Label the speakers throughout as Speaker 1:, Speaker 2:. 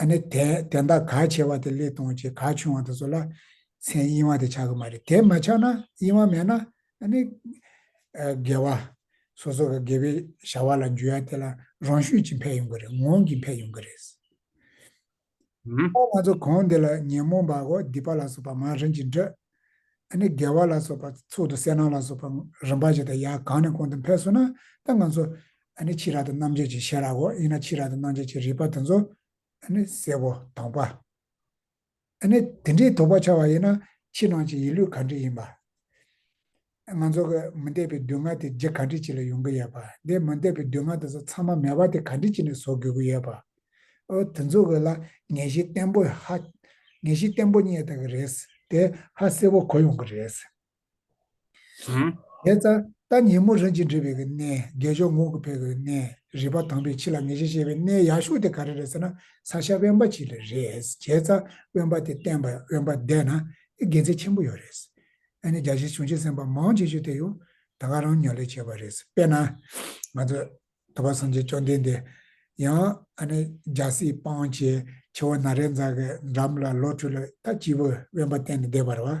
Speaker 1: ཨ་ནི་དེ་དེ་འདའ་ག་ཆེ་བ་དེ་ལས་སྟོང་ཆེ་ག་ཆུང་བ་དེ་ཚོ་ལ་མཚན་དབྱིངས་བ་དེ་ཆགས་གི་མ་རེད་དེ་མ་ཆགས་ན་དབྱིངས་བ་མེད་ན་ཨ་ནི་དགེ་བ་སོ་སོ་ག་དགེ་བའི་བྱ་བ་ལ་འཇུ་ཡ་དེ་ལ་རང་ཤུགས་ཀྱིས་འཕེལ་ཡོང་གི་རེད་ངོང་གིས་འཕེལ་ཡོང་གི་རེད། ང་ཚོ་གང་འདི་ལ་ཉོན་མོངས་པ་གོ་སྡིག་པ་ལ་སོགས་པ་མང་རིན་གྱིས་འདྲི། ཨ་ནི་དགེ་བ་ལ་སོགས་པ་ཚུལ་དུ་གསལ་སྣང་ལ་སོགས་པ་རིམ་པ་བཞིན་དུ་ཡ་གང་ནས་གང་དུ་འཕེལ་སོང་ན་ད་ང་ཚོ་ཨ་ནི་ཕྱི་རགས་དང་རྣམ་འབྱེད་ཀྱི་ཤེས་རབ་འོ་ཡིན་ན་ཕྱི་རགས་དང་རྣམ་འབྱེད་ཀྱི་རིག་པ་དེ་ཚོ་ཨ་ནི་གསལ་བོ་དྭངས་པ་ཨ་ནི་དེ་འདྲའི་དོགས་པ་འཆར་བ་ཡིན་ན་ཕྱི་ནང་གི་ཡིད་ལུས་གང་འདྲི་ཡིན་པ། ང་ཚོ་གི་མུན་འདེབས་པའི་སྡུག་བསྔལ་དེ་རྗེ་གང་འདྲི་གཅིག་ལ་ཡོང་གི་ཡོད་པ་འདི་མུན་འདེབས་པའི་སྡུག་བསྔལ་དེ་ཚོ་ཚང་མ་མེ་བ་དེ་གང་འདྲི་གཅིག་ནས་བཟོ་དགོས་ཀྱི་ཡོད་པ། ཨོ་དེ་ཚོ་གི་ལ་ངེས་ཤེས་བརྟན་པོ་ཧ། ངེས་ཤེས་བརྟན་པོ་རྙེད་ཐུབ་ཀྱི་རེད། དེ་ཧ་གསལ་བོ་གོ་ཡོང་གི་རེད། དེ་ལྟར་ལྟ་ཉིན་མོ་རིན་གྱིས་འབྲི་བའི་གནས་བརྒྱད་མཆོག་ངོགས་ཀྱི་ཕེབས་པའི་གནས་རི་པ་དང་པོའི་ཕྱི་ལ་ངེས་ཤེས་བཤད་པའི་གནས་ཡག་ཤོས་དེ་ག་རེ་རེད་ཟེར་ན་ས་ཤ་དབེན་པ་ཞིག་རེད་བྱས་ཙང་དབེན་པ་དེ་བསྟན་པ་དབེན་པ་བསྡད་ན་དགེ་མཚན་ཆེན་པོ་ཡོད་རེད་ཨ་ནི་རྒྱ་ཆེའི་གཞུང་ཆེན་གསན་པ་མང་ཆེ་ཤོས་དེ་ཡང་ད་ག་རང་ཉོ་ལེ་བྱས་པ་རེད་དཔེར་ན་ང་ཚོ་ཐུབ་པ་སངས་རྒྱས་བཅོམ་ལྡན་འདས་ཡང་ཨ་ནི་རྒྱལ་སྲིད་སྤང་བྱེད་ཆེ་བ་ན་རེ་འཛག་གི་འགྲམ་ལ་ལོ་ཁྲུ་ལ་ད་སྐྱིད་པོ་དབེན་པ་བསྟན་ནས་བསྡད་པ་རེད་བ།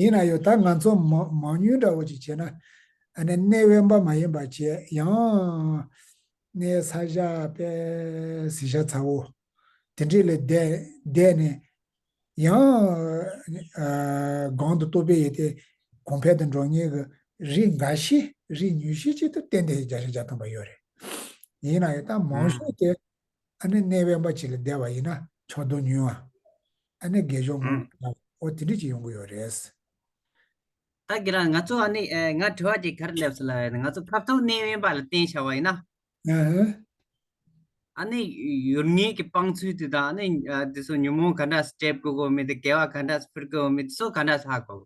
Speaker 2: ཡིན་ན་ཡང་ད་ང་ཚོ་
Speaker 1: མང་ཉུང་འདྲ་བོ་ཅིག་བྱས་ན་གནས་དབེན་པ་མ་ཡིན་པ་བྱས་ཡང་གནས་ས་ཞྭ་དཔལ་གཟི་ཞྭ་ཚ་བོ་དེ་འདྲས་ལས་འདས་ནས་ཡང་གང་དུ་གཏོགས་པའི་ཡོད་དེ་གོང་འཕེལ་དུ་འགྲོ་ངེས་ཀྱི་རིགས་འགའ་ཤས་རིགས་ཉུང་ཤས་ཅིག་ཏུ་བསྟན་དེ་བརྒྱ་ཆ་བརྒྱ་སྟོན་པ་ཡོད་རེད། ཡིན་ན་ཡང་ད་མང་ཤོས་དེ་ཨ་ནི་གནས་དབེན་པ་ཅིག་ལ་བསྡད་པ་ཡིན་ན་ཕྱོགས་བསྡོམས་ཉུང། ཨ་ནི་དགེ་སྦྱོང་མང་པོ་ལ་འོ་དེ་འདྲི་གཅིག་ཡོང་གི་ཡོད་རེད།
Speaker 2: ད་གི་རང་ང་ཚོ་ཨ་ནི་ང་དྲི་བ་ཅིག་ག་རེ་སླེབས་སོ་ལ་ང་ཚོ་ཕབ་ཐོག་གནས་དབེན་པ་ལ་བསྟན་བྱ་བ་ཡིན་ན། ཨ། ཨ་ནི་ཡུལ་དངོས་ཀྱི་དཔང་ཚུལ་དེ་དང་ཨ་ནི་དེ་ཚོ་ཉོན་མོངས་ག་འདྲ་སྤྲད་དགོས་དགོས་མིན་དེ་དགེ་བ་ག་འདྲ་ཕུལ་དགོས་མིན་དེ་ཚོ་ག་འདྲ་ཧ་གོ།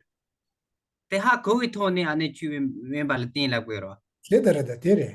Speaker 2: དེ་ཧ་གོ་བའི་ཐོག་ནས་ཨ་ནི་ཆོས་དབེན་པ་ལ་བསྟན་ལ་དགོས་རོགས། དེ་ལྟར་རེད་དེ་རེད།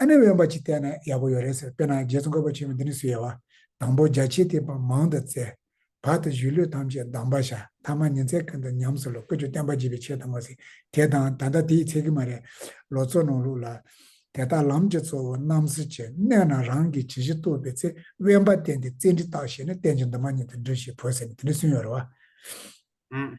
Speaker 1: ཨ་ནེ་དབེན་པ་གཅིག་བསྟན་ན་ཡག་པོ་ཡོད་རེད་ཟེར་དཔེར་ན་རྗེ་ཙོང་ཁ་པ་ཆེན་པོ་འདི་ནི་སུ་ཡལ་བ། དང་པོ་རྒྱ་ཆེའི་ཐེག་པ་མང་དུ་བཙལ། བར་དུ་གཞིས་ལུས་ཐམས་ཅད་སྡང་བ་བྱ་མཐའ་མ་ཉིན་ཚད་ཀུན་ཏུ་ཉམས་སུ་ལོག་ཀུན་སྤྱོད་བསྟན་པ་བརྗིད་པའི་ཆེད་དུ་མ་ཟིན་དེ་དང་ད་ལྟ་དེའི་ཚད་ཀྱི་མ་རེད། ལོ་ཚོད་ནང་ལུགས་ལ། དེ་དག་ལམ་གྱི་གཙོ་བོ་རྣམ་གཟིགས་ཀྱི་གནས་ན་རང་གིས་ཇི་བཞིན་རྟོགས་པའི་ཚེ་དབེན་པ་བསྟན་ཏེ་བཙལ་འབྲི་བརྟག་བྱས་ནས་བསྟན་ཅིང་འདུན་མ་ཉིད་དུ་འབྲི་ཞེས་བོས་ཟེར་ནས་དེ་ནི་སུན་ཡོད་རེད་བ།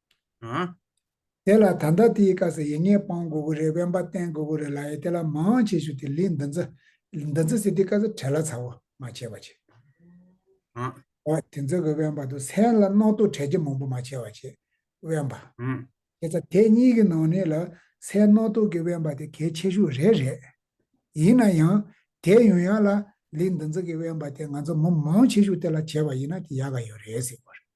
Speaker 2: ཨ། དེ་
Speaker 1: ལ་ད་ལྟ་དེའི་སྐབས་སུ་ཡིག་ངེས་སྤང་དགོས་ཀྱི་རེད་དབེན་པ་བསྟན་དགོས་ཀྱི་རེད་ལ་ཡི་དེ་ལ་མང་བྱེད་ཞུ་དེ་ལིས་འདི་ཚོ་འདི་ཚོ་ཟེར་དེའི་སྐབས་སུ་བྲལ་ལ་ཚ་བོ་མ་བྱེད་པ་བྱེད།
Speaker 2: ཨ། ཨོ་དེ་ཚོ་
Speaker 1: གི་དབེན་པ་དུ་སན་ལ་རྣག་ཏུ་བྲལ་གྱི་མང་པོ་མ་བྱེད་བ་བྱེད་དབེན་པ། ཨ། དེ་ཚ་དེ་གཉིས་ཀྱི་ནང་ནས་ལ་སན་རྣག་ཏུ་གི་དབེན་པ་དེ་གལ་ཆེ་ཤོས་རེད་རེད། ཡིན་ན་ཡང་དེ་ཡོང་ཡག་ལ་ལིས་འདི་ཚོ་གི་དབེན་པ་དེ་ང་ཚོ་མོ་མང་བྱེད་ཞུ་དེ་ལ་བྱེད་པ་ཡིན་ན་དེ་ཡག་ག་ཡོད་རེད་ཟེར་དགོས་རེད།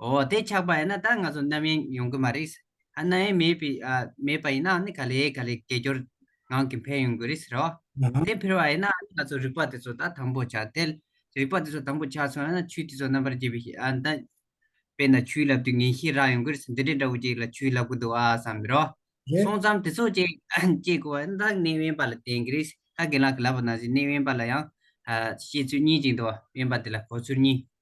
Speaker 2: ཨོ་དེ་ཆགས་པ་ཡིན་ན་ད་ང་ཚོ་རྣམ་གཡེང་ཡོང་གི་མ་རེད། རྣམ་གཡེང་མེད་པའི་མེད་པ་ཡིན་ནའང་ནི་ག་ལེ་ག་ལེ་དགེ་སྦྱོར་ངང་གིས་འཕེལ་ཡོང་གི་རེད་ཟེར་རོ། དེ་འཕེལ་བ་ཡིན་ན་
Speaker 1: ནི་ང་
Speaker 2: ཚོ་རིག་པ་དེ་ཚོ་ད་དང་པོ་ཆགས་ཐལ། རིག་པ་དེ་ཚོ་དང་པོ་ཆགས་སོང་ན་ཆོས་དེ་ཚོ་རྣམ་པར་འབྱེད་པའི་ཤེས་ཡོན་ལྡན། དཔེར་ན་ཆུའི་ལབ་དུས་ངན་ཤེས་རག་ཡོང་གི་རེད་འདི་འདྲའི་འདྲ་བོ་ཅིག་ལ་ཆུའི་ལབ་གི་འདུག་ཨ་བསམ་གི་རོ། རེད། སོང་ཙམ་དེ་
Speaker 1: ཚོ་ཅིག་
Speaker 2: བྱེད་དགོས་པ་ཡིན་ན་ད་གནས་དབེན་པ་ལ་བསྟན་གི་རེད། ད་དགེན་ལགས་ཀྱི་ལབ་པ་ནང་བཞིན་གནས་དབེན་པ་ལ་ཡང། བཤད་ཚུལ་གཉིས་ཅིག་འདུག་དབེན་པ་དེ་ལ་གོ་ཚུལ་གཉིས།